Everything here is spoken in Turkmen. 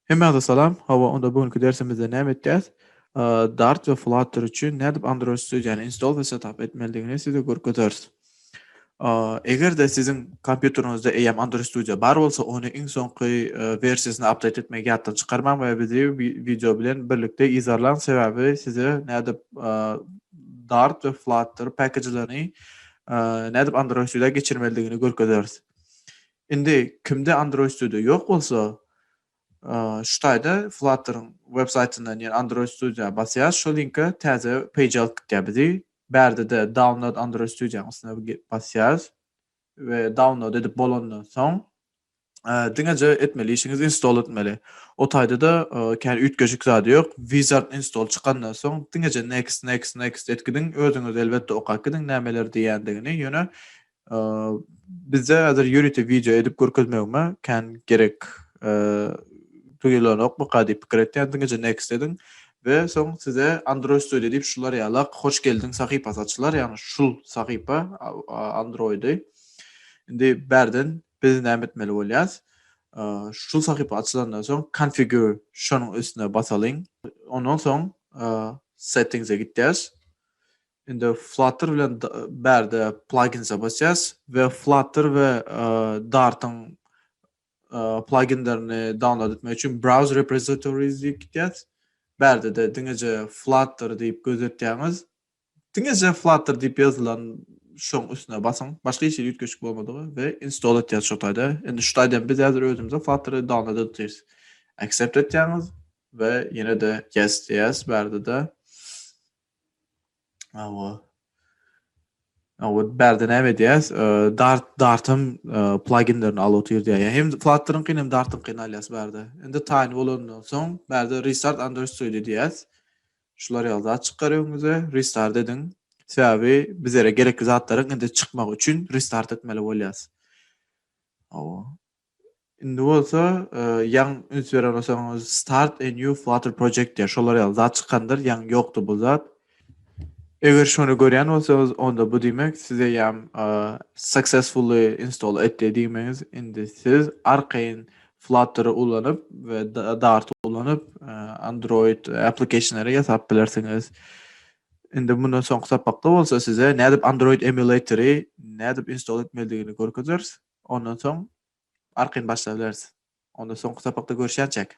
Hemmäňize salam. Hawa, onda bu günki dersimizde näme etjäs? Dart we Flutter üçin nädip Android Studio-ny install we setup etmelidigini size görkezeris. A Eger-de siziň kompýuteriňizde eýýäm Android Studio bar bolsa, ony iň soňky wersiýasyna update etmegi ýatdan çykarmaň we bizi wideo bilen birlikde yzarlaň, sebäbi size nädip Dart we Flutter package-lerini nädip Android Studio-a geçirmelidigini görkezeris. Indi kimde Android Studio ýok bolsa, Şu taýda Flutter-yň websaýtyndan ýene Android Studio-a basýas, şol linke täze page alyp gitýär bizi. Bärde-de Download Android Studio-nyň üstüne basýas we download edip bolandan soň diňeje etmeli işiňiz install etmeli. O taýda-da kän üýtgeşik zady ýok. Wizard install çykandan soň diňeje next, next, next et gidiň, özüňiz elbetde okap gidiň nämeler diýýändigini, ýöne Bizde häzir ýörite wideo edip görkezmegime kän gerek duýulanokmyka diýip pikir etýän diňeje next ediň we soň size Android Studio diýip şular ýalak hoş geldiň sahypasy açylar ýagny şul sahypa Androidy indi bärden biz näme etmeli bolýas şul sahypa açylandan soň configure şonuň üstüne basalyň ondan soň settings-e gitýäs Indi Flutter bilen bärde plaginsa basýas we Flutter we Dartyň plaginlerini download etmek üçin browse repositories diýip gitýäs. Bärde-de diňeje Flutter diýip gözetýäňiz. Diňeje Flutter diýip ýazylan şoň üstüne basyň. Başga hiç ýerde üýtgeşik bolmadygy we install etýäs şu taýda. Indi şu taýdan biz häzir özümize Flutter download edýäs. Accept etýäňiz we ýene-de yes diýýäs bärde-de. Awa. Awa bärde näme edýäs? Dart dartam pluginlerini alyp otyr diýýär. Hem Flutter-yň kyn hem Dart-yň kyn alýas bärde. Indi taýyn bolandan soň bärde restart understood edýäs. Şular ýaly zat çykar öňüňize. Restart ediň. Sebäbi bizlere gerekli zatlaryň indi çykmagy üçin restart etmeli bolýas. Awa. Indi bolsa ýaň üns beren bolsaňyz start a new flutter project diýýär. Şolar ýaly zat çykandyr, ýaň ýokdy bu zat. Eger şony görýän bolsaňyz, onda bu diýmek siz eýýäm successfully install etdi diýmegiz. Indi siz arkaýyn Flutter-y ulanyp we Dart-y ulanyp Android application-lary ýasap bilersiňiz. Indi mundan soňky sapakda bolsa size nädip Android emulator-y nädip install etmelidigini görkezeris. Ondan soň arkaýyn başlabereris. Onda soňky sapakda görüşýänçäk.